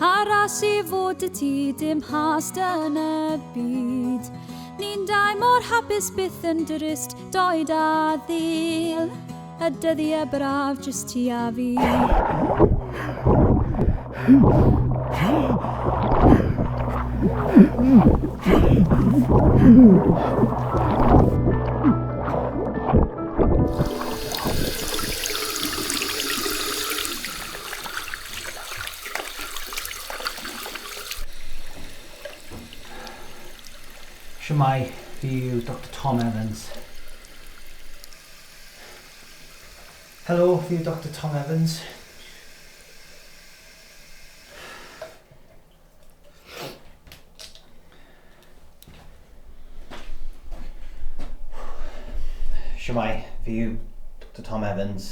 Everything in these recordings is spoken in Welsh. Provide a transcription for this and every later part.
Aros i fod y ti dim hast yn y byd Ni'n dau mor hapus byth yn drist doed a ddil Y dyddiau braf jyst ti a fi Shwmae, fi yw Doctor Tom Evans. Helo, fi yw Doctor Tom Evans. Shwmai, fi yw Dr Tom Evans.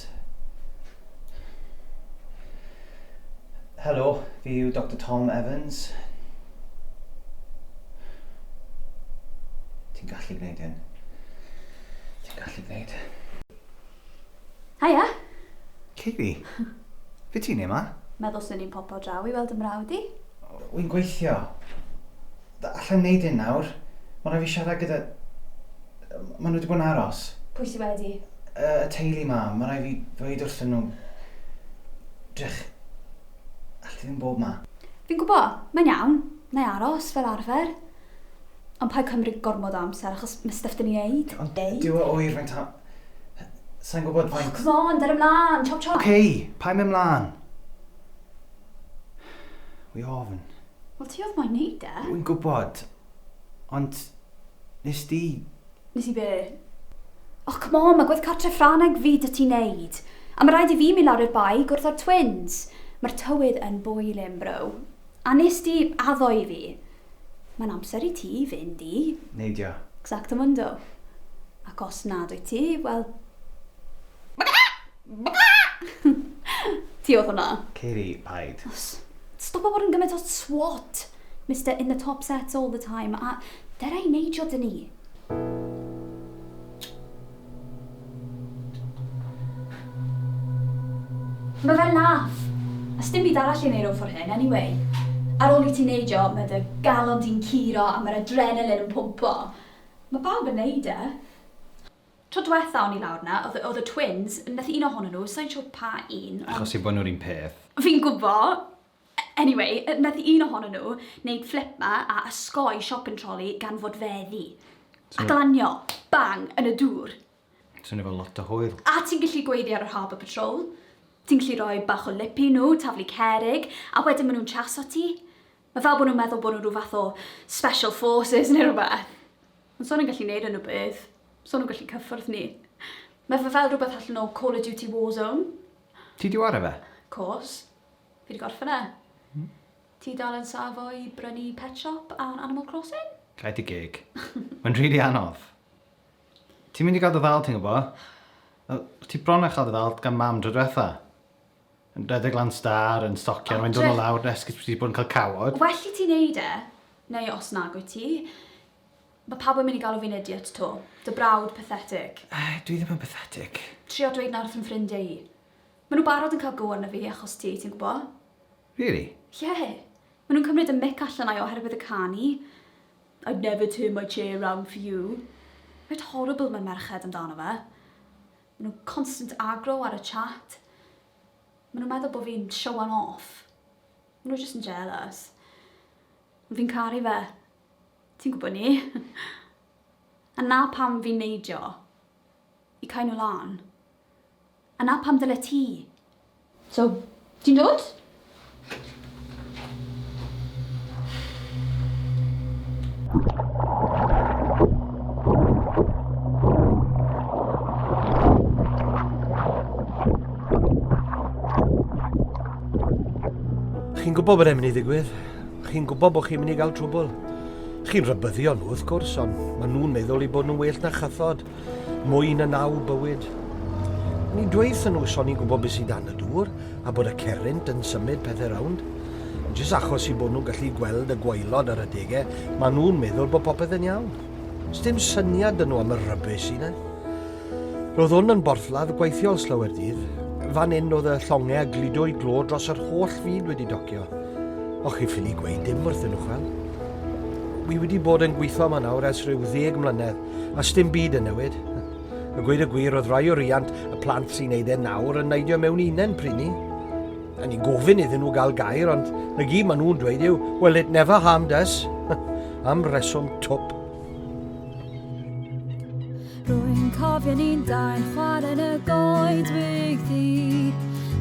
Helo, fi yw Dr Tom Evans. Ti'n gallu gwneud hyn. Ti'n gallu gwneud hyn. Haia! Kayleigh? Be ti'n neud 'ma? Meddwl swn i'n popo draw i weld 'y mrawd i. Wy'n gweithio. Allai'm neud hyn nawr. Ma' rhai' fi siarad gyda... Ma' nhw 'di bod yn aros. Pwy sy wedi? Y teulu 'ma. Ma' rhai' fi ddweud wrthyn nhw. Drych. Alli di ddim bod 'ma. Fi'n gwbo. Mae'n iawn. Nai aros, fel arfer. Ond paid cymryd gormod o amser achos ma stuff da ni neud. Ond dyw o oer faint o... Sai'n gwybod faint... Oh come on, dere mlan, chop chop! Ok, paid mynd mlan. Wi ofn. Wel ti odd moyn neud e. Wi'n gwybod, ond nes di... Nes i be? Oh come on, ma gwedd cartre Ffraneg fi da ti neud. A ma raid i fi mynd lawr i'r bae i gwrdd a'r twins. Ma'r tywydd yn boiling bro. A nes di addo i fi. Mae'n amser i ti fynd i... Neidio. Xactamundo. Ac os nad wyt ti, wel... Ti oedd hwnna. Ceiri, paid. Stopa bod yn gymaint o twat, Mister in the top sets all the time, a dera i neidio 'da ni. Ma fe'n laff! A sdim byd arall i neud o for hyn anyway. Ar ôl i ti neidio, ma dy galon di'n curo a ma'r adrenalin yn pwmpo. Ma pawb yn neud e. Tro dwetha o'n i lawr na, o'dd o'dd y twins, methu un ohonyn nhw, sai'n siwr pa un, ond... Achos eu bo nhw'r un peth. Fi'n gwbo! Anyway, nath un ohonyn nhw wneud fflip 'ma a ysgoi shopping trolley gan fod fe ddu. A glanio, bang, yn y dŵr. Swnio fel lot o hwyl. A ti'n gallu gweiddi ar yr Harbour Patrol, ti'n gallu rhoi bach o lip i nhw, taflu cerrig, a wedyn ma' nhw'n chas at ti. Ma' fel bod nhw'n meddwl bod nhw'n rhyw fath o special forces neu rhywbeth. Ond so nhw'n gallu neud unrhyw beth. So nhw'n gallu cyffwrdd ni. Ma' fe fel rhywbeth allan o Call of Duty Warzone. Ti 'di ware fe? Course. Fi 'di gorffen e. Hmm? Ti dal yn safo i brynu Pet Shop ar Animal Crossing? Gad dy geg. Mae'n rili anodd. Ti'n mynd i gael dy ddal, ti'n gwybod? Wel, o' ti bron â chael dy ddal gan mam dro diwetha. Yn rhedeg lan star, yn stocian, mae'n dod o lawr yn esgus bod ti 'di bod yn cael cawod. Well i ti wneud e, neu os nag wyt ti, mae pawb yn mynd i galw fi'n idiot 'to. Dy brawd pathetic. Eh, dwi ddim yn pathetic. Trio dweud 'na wrth fy ffrindiau i. Maen nhw barod yn cael go arna fi achos ti, ti'n gwbo. Really? Ie. Maen nhw'n cymryd y mic allan ai oherwydd y can i. I'd never turn my chair round for you. Reit horrible mae merched amdano fe. Maen nhw'n constant agro ar y chat. Maen nhw'n meddwl bod fi'n showan off. Maen nhw just yn jealous. Fi'n caru fe. Ti'n gwybod ni? A na pam fi'n neidio. I cael nhw lan. Yna pam dyle ti? So, ti'n dod? Chi'n gwybod bod e'n mynd i ddigwydd. Chi'n gwybod bod chi'n mynd i gael trwbl. Chi'n rhybyddio nhw, wrth gwrs, ond maen nhw'n meddwl i bod nhw'n well na chathod. Mwy na naw bywyd. Ni dweithon nhw so ni'n gwybod beth sydd dan y dŵr a bod y cerrynt yn symud pethau rownd. Jyst achos i bod nhw'n gallu gweld y gwaelod ar adegau, maen nhw'n meddwl bod popeth yn iawn. Sdim syniad dyn nhw am y rybys sy'n e. Roedd hwn yn borthladd gweithiol slawer dydd. Fan hyn oedd y llongau a gludo i glo dros yr holl fyd wedi docio. O'ch chi ffili gweud dim wrthyn nhw chwel. Wi wedi bod yn gweithio yma nawr ers rhyw ddeg mlynedd a sdim byd yn newid. Y gweud y gwir oedd rai o riant y plant sy'n neud e nawr yn neidio mewn unen pryn ni. A ni'n gofyn iddyn nhw gael gair, ond na gyd maen nhw'n dweud yw, well it never harmed us, am reswm twp. Rwy'n cofio ni'n dain chwarae yn y goedwig ddi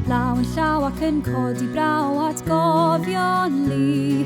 Law yn llaw ac yn codi braw at gofion li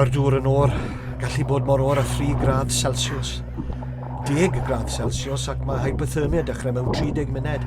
Mae'r dŵr yn o'r gallu bod mor o'r a 3 gradd Celsius. 10 gradd Celsius ac mae hypothermia dechrau mewn 30 munud.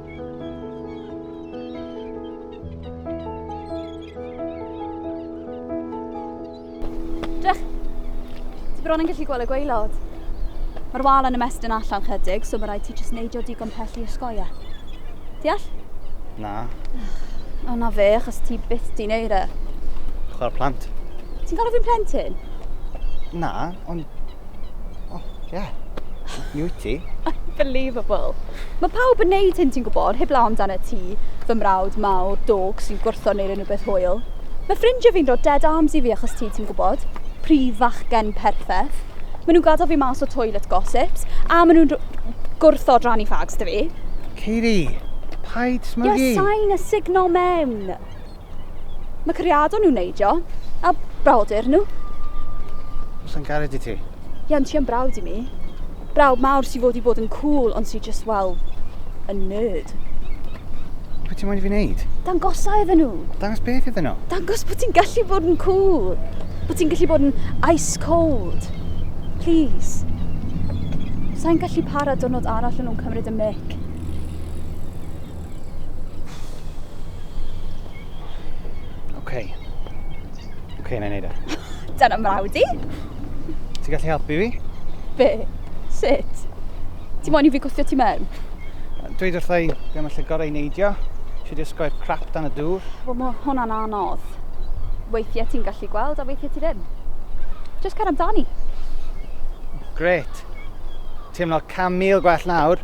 Drych! Ti bron yn gallu gweld y gweilod. Mae'r wal yn ymestyn allan chydig, so mae rhaid ti jyst neidio digon pell i ysgoia. Deall? Na. O na fe, achos ti byth di neud e. Chwarae plant. Ti'n galw fi'n plentyn? Na, Ond... O, oh, ie. Yeah. Mi wyt ti. Unbelievable. Mae pawb yn neud hyn, ti'n gwybod, heb law amdano ti, fy mrawd mawr, dog sy'n gwrtho neu unrhyw beth hwyl. Mae ffrindiau fi'n dod dead arms i fi achos ti, ti'n gwybod. Prif fachgen perffaith. Maen nhw'n gadael fi mas o toilet gossips, a maen nhw'n gwrtho drannu fags dy fi. Katie, paid smygu. Ie, sain a signo mewn. Mae cariadon nhw'n neidio, a brawdur nhw. Os yn gared i ti? Ie, ond ti yn brawd i mi. Brawd mawr sy'n fod i bod yn cool, ond sy'n just, well, a nerd. Beth ti'n moyn i fi wneud? Dangosa iddyn nhw. Dangos beth iddyn nhw? Dangos bod ti'n gallu bod yn cool. Bod ti'n gallu bod yn ice cold. Please. Sa'n gallu para dwrnod arall yn nhw'n cymryd y mic. OK. OK, na i wneud e. Dyna mrawd di. Ti gallu helpu fi? Be? Sut? Ti moyn i fi gwthio ti mewn? Dweud wrtha i be mae lle gorau i neidio. Siwr di osgoi'r crap dan y dŵr. Wel, mae hwnna'n anodd. Weithiau ti'n gallu gweld a weithiau ti ddim. Just cer amdani. Gret. Teimlo cam mil gwell nawr.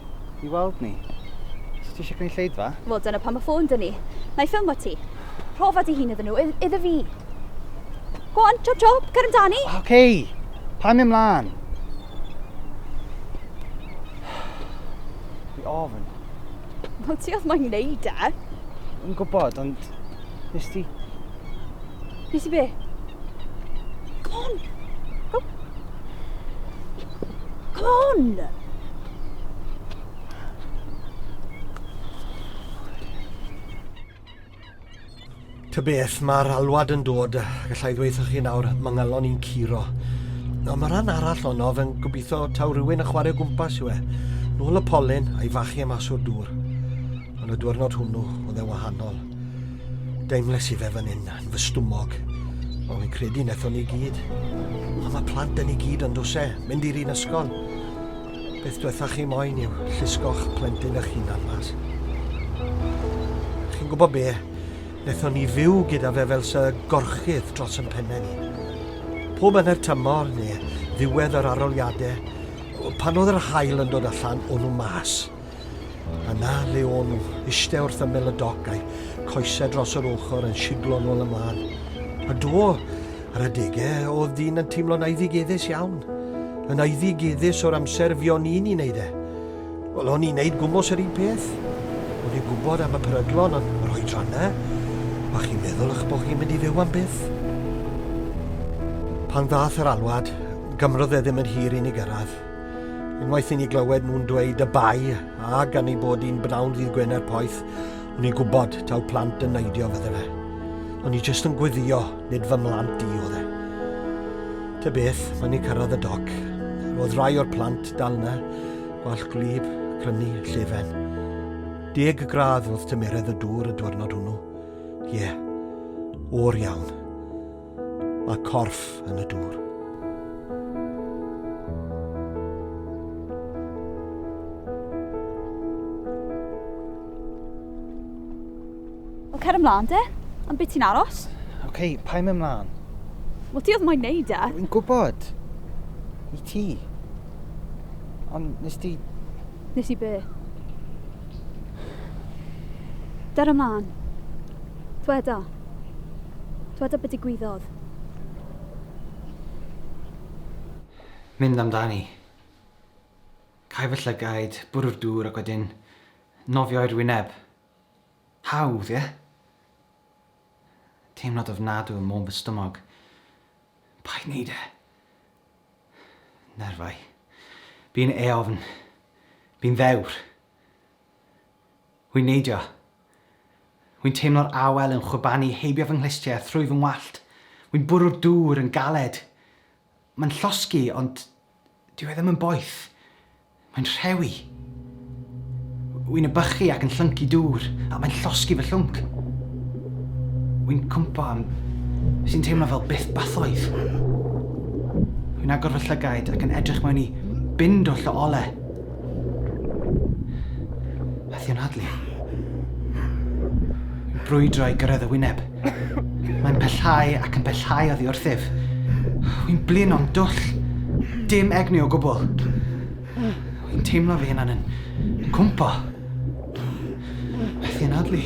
i weld ni. Os ti eisiau cynulleidfa? Wel, dyna pam y ffôn dyn ni. Na i ffilmo ti. Profa dy hun iddyn nhw, iddo fi. Go on, chop chop, cer amdani. Oce, okay. pa mi ymlaen? Fi ofyn. Wel, ti oedd moyn wneud e. Yn gwybod, ond... Nes ti... Nes i be? Come on! Go! Come on! Ta beth, mae'r alwad yn dod. Gallai ddweud chi nawr, mae ngalon i'n curo. No, mae rhan arall ono fe'n gobeithio taw rhywun yn chwarae gwmpas yw e. Nôl y polyn a'i fachu am aswr dŵr. Ond y diwrnod hwnnw, oedd e'n wahanol. Deimles i fe fan hyn, yn fy stwmog. Ond fi'n credu nethon ni gyd. A mae plant yn ei gyd yn dwse, mynd i'r un ysgol. Beth diwetha chi moyn yw llusgo'ch plentyn eich hunan mas. Chi'n gwybod be? Nethon ni fyw gyda fe fel sy gorchydd dros yn penne ni. Pob yn yr tymor neu ddiwedd yr aroliadau, pan oedd yr hael yn dod allan o'n nhw mas. Yna fe o'n nhw, iste wrth ymyl y doc a'i choesau dros yr ochr yn siglo nôl ymlaen. A do, ar adegau, oedd dyn yn teimlo'n aeddigeddus iawn. Yn aeddigeddus o'r amser fi o'n i'n ei wneud e. Wel, o'n i'n neud gwmwys yr un peth. O'n i'n gwybod am y peryglon, ond yr oedrannau, a chi'n meddwl eich bod chi'n mynd i fyw am byth. Pan ddath yr alwad, gymrodd e ddim yn hir i ni gyrraedd. Unwaith i ni glywed nhw'n dweud y bai, a gan ei bod hi'n bnawn ddydd Gwener poeth, o'n i'n gwybod taw plant yn neidio fydde fe. O'n i jyst yn gwyddio, nid fy mlant i oedd e. Ty beth, mae ni cyrraedd y doc. Roedd rai o'r plant dal yna, gwalch gwlyb, crynu, llefen. Deg gradd wrth tymeredd y dŵr y diwrnod hwnnw. Ie, yeah. o'r iawn. Mae corff yn y dŵr. Wel, cer ymlaen de. Am beth ti'n aros? Oce, okay, pa i'n ymlaen? Wel, ti oedd moyn neud e. Dwi'n gwybod. I ti. Ond nes ti... Nes i be? Der ymlaen. Dweda. Dweda be digwyddodd. Mynd amdani. Cau fy llygaid, bwrw'r dŵr ac wedyn nofio i'r wyneb. Hawdd, ie? Teimlad ofnadw ym môn fy stumog. Paid neud e! Nerfau. Bu'n eofn. Bu'n ddewr. Wi'n neidio. Wi'n teimlo'r awel yn chwibanu heibio fy nghlustiau a thrwy fy ngwallt. Wi'n bwrw'r dŵr yn galed. Mae'n llosgi, ond dyw e ddim yn boeth. Mae'n rhewi. Wi'n ebychu ac yn llyncu dŵr, a mae'n llosgi fy llwnc. Wi'n cwympo am sy'n teimlo fel bythbathoedd. Wi'n agor fy llygaid ac yn edrych mewn i bin dwll o ole. Methu anadlu. Brwydro i gyrraedd y wyneb. Mae'n pellhau ac yn pellhau oddi wrthyf. Wy'n blin o'n dwll. Dim egni o gwbl. Wy'n teimlo fi yna'n yn cwmpo. Methu anadlu.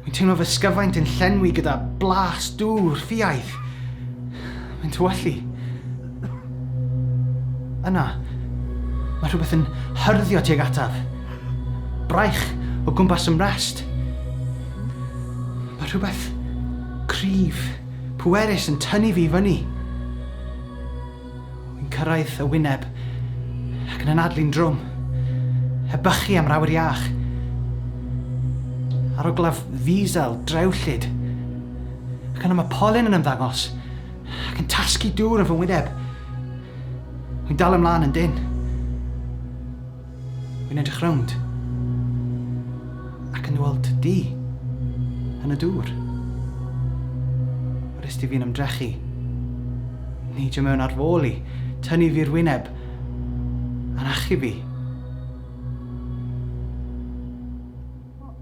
Dwi'n teimlo fy sgyfaint yn llenwi gyda blas dŵr ffiaidd. Mae'n tywallu. Yna, mae rhywbeth yn hyrddio tuag ataf. Braich o gwmpas y mrest. Mae rhywbeth cryf, pwerus yn tynnu fi i fyny. Yn cyrraedd y wyneb ac yn anadlu'n drwm. Heb bychu am rawyr iach. Aroglaf ddiesel drewllyd. Ac yna mae polyn yn ymddangos ac yn tasgu dŵr yn fy ngwyneb. Wy'n dal ymlaen yn dynn. Wi'n edrych rownd ac yn weld di yn y dŵr. Yr ysdi fi'n ymdrechu. Neidio mewn ar fôl i, tynnu fi'r wyneb, a'n achub fi.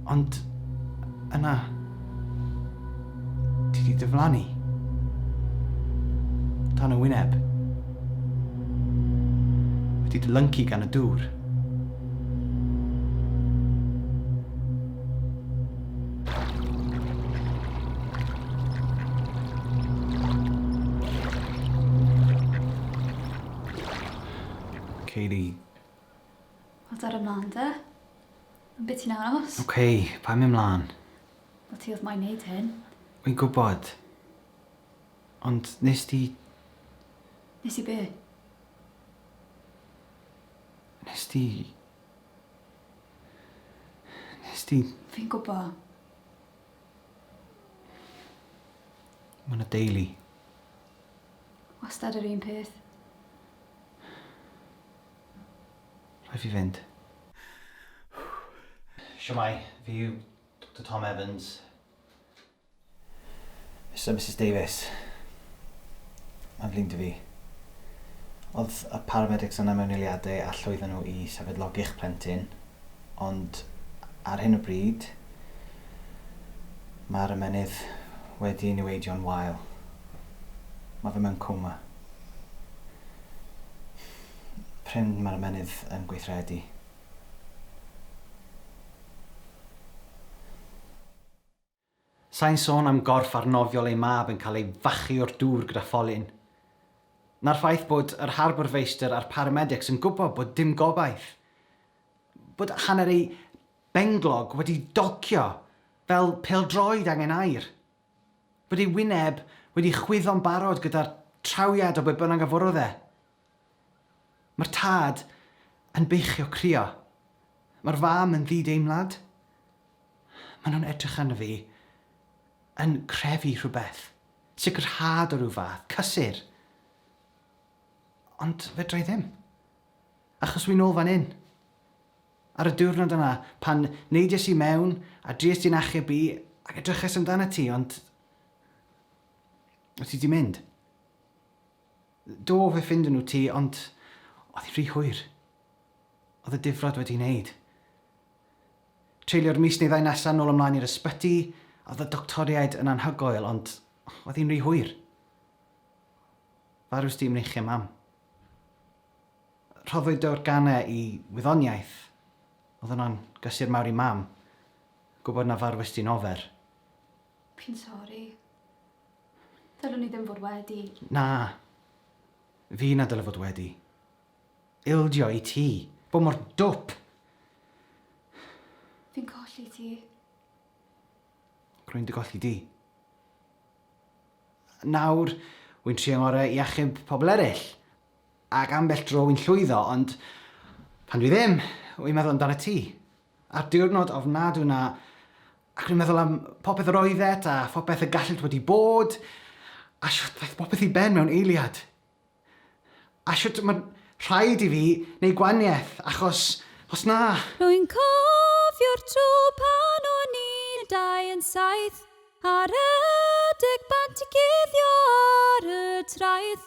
Ond yna, ti di dyflannu. Tan y wyneb. Wedi dy lyncu gan y dŵr. Kayleigh Wel dere mlan de. Am be ti'n aros? Ok, paid mynd mlan. Wel ti odd moyn neud hyn. Wi'n gwbod. Ond nes di... Nes i be? Nes di... Nes di... Fi'n gwbo. Ma' 'na deulu. Wastad yr un peth. Rhaid fi fynd. Shwmae, fi yw Doctor Tom Evans. Mister a Misus Davies. Mae'n flin 'da fi. Oedd y paramedics yna mewn eiliadau a llwyddan nhw i sefydlogi'ch plentyn, ond ar hyn o bryd, mae'r ymennydd wedi ei niweidio'n wael. Mae fe mewn coma. prin mae'r ymennydd yn gweithredu. Sai'n sôn am gorff arnofiol ei mab yn cael ei fachu o'r dŵr gyda pholyn, na'r ffaith bod yr Harbour Feistr a'r paramedics yn gwybod bod dim gobaith, bod hanner eu benglog wedi docio fel pêl-droed angen aer. Bod ei wyneb wedi chwyddo'n barod gyda'r trawiad o be bynnag a forodd e. Mae'r tad yn beichio crio. Mae'r fam yn ddideimlad. Maen nhw'n edrych arno fi, yn crefu rhywbeth, sicrhad o ryw fath, cysur. Ond fedra i ddim. Achos wi'n ôl fan hyn. Ar y diwrnod yna, pan neidiais i mewn, a drues di'n achub i, ac edrychais amdanat ti, ond... o' ti 'di mynd. Do, fe ffindon nhw ti, ond oedd hi'n rhy hwyr. Oedd y difrod wedi ei wneud. Treulio'r mis neu ddau nesaf nôl ymlaen i'r ysbyty, a oedd y doctoriaid yn anhygoel, ond oedd hi'n rhy hwyr. Farws di i mreichiau Mam. Rhoddwyd y organau i wyddoniaeth. Oedd hwnna'n gysur mawr i Mam, gwybod na farwestyn ofer. Dwi'n sori. Ddylwn i ddim fod wedi. Na. Fi na dyle fod wedi. Ildio i ti. Bod mor dwp! Fi'n colli ti. Rwy'n dy golli di. Nawr, wy'n trio ngorau i achub pobl eraill. Ac ambell dro wy'n llwyddo, ond pan dwi ddim, wy'n meddwl amdanat ti. A'r diwrnod ofnadw 'na. Ac rwy'n meddwl am popeth yr oeddet, a phopeth y gallent wedi bod, a shwt ddaeth popeth i ben mewn eiliad. A shwt mae'n rhaid i fi wneud gwaniaeth, achos os na... Rwy'n cofio'r tro pan o'n ni yn dau yn saith, ar adeg bant i guddio ar y traeth.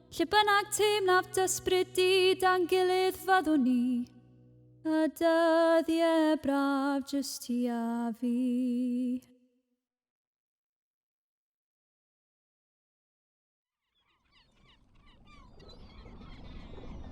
Lle bynnag teimlaf dysbrydu dan gilydd fyddwn ni, y dyddiau braf jyst ti a fi.